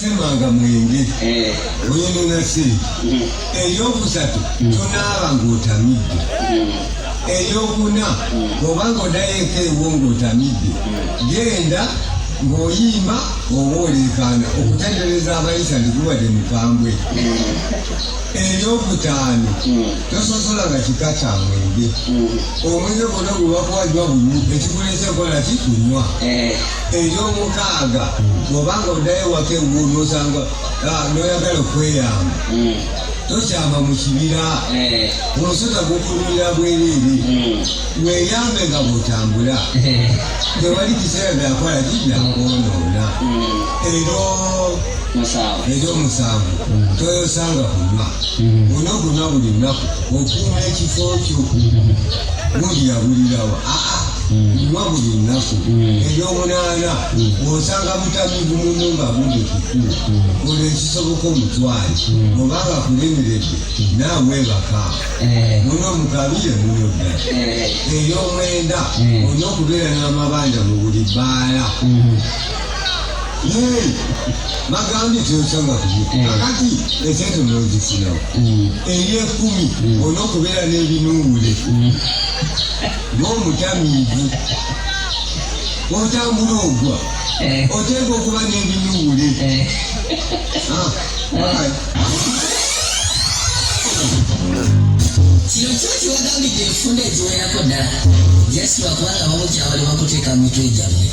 simanga mwenge eh. wino nasi mm. eyokusatu mm. tonaaba ng'otamidde mm. eyokuna obanga odayoeko ewo ng'otamidde genda ng'oyimba oba oleekaana okutendereza abayisa ndikuwadde mukambwe ekyokutaano tososola nga kika kya mwenge omwenge gona gwebakuwajwa gumu ekikulesa enkola ki kunywa ekyomukaaga oba nga oddayo ewaka ewu nosanga noyagala okweyamba tokyama mu kibira omusota gukulumira bwereere weyambe nga bwotambula tewali kiseera byakola ki byakwonoona ery'omusanvu toyosanga kunywa olina okunywa buli lunaku okuuma ekifo kyo bulira bulirawo nywa buli lunaku ery'omunaana osanga butami bumumu nga buli kukulu olwo ekisoboka omutwale oba nga kulemeredde naawe baka muno mukabire muno ddala ery'omwenda olina okubeera n'amabanja mu buli bbaala bagambye teyokyanga kakati esente nozifuna eyekumi olina okubeera n'ebinuubule n'omutamiivu otambula ogwa oteeka okuba n'ebinuubule kino kyo kiwagambidde enfunda eziwerako ddala yesu bakubanga bamu kyabali bakuteeka mu mitwe gyammwe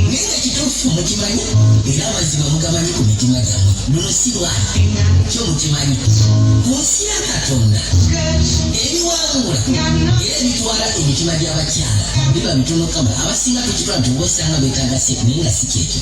naye nga kituufu mukimanyi era amazima mugamanyi ku mitima gyammwe luno si lwaki kyo mukimanyi ku nsi ya katonda ebiwangula era ebitwala emitima gy'abakyala biba bitono kama abasinga tukitwala nti obosanga betaaga se naye nga si kyekyo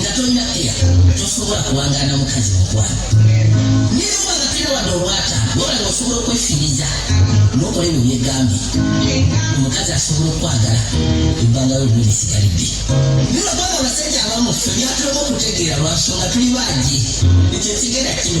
nga tolina keya tosobola kuwangaana mukazi mukwano naye oba nga tolina wadde obwata wabula nga osobola okwefiiriza nokola ebyo byegambye omukazi asobola okwagala ebbanga lyo lino lisigalidde naye lwabanga abasajja abamu ffe byatulema okutegeera lwansonga tuli baagi ekyo kigenda kino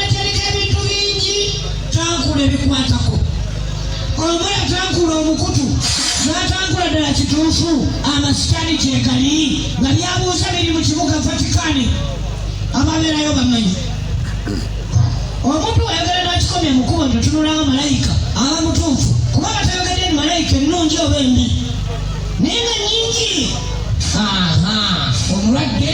Atereka ebintu bingi tankula ebikwatako omuya tankula omukutu n'atankula ddala kituufu amasitaani gyegali nga byabuuza biri mu kibuga Vatikani ababeerayo bamanyi omuntu ayagala n'akikomya mu kubo ntotunulawo malayika aba mutuufu kuba batayogedde ni malayika ennungi oba embi naye nga nyingi omulwadde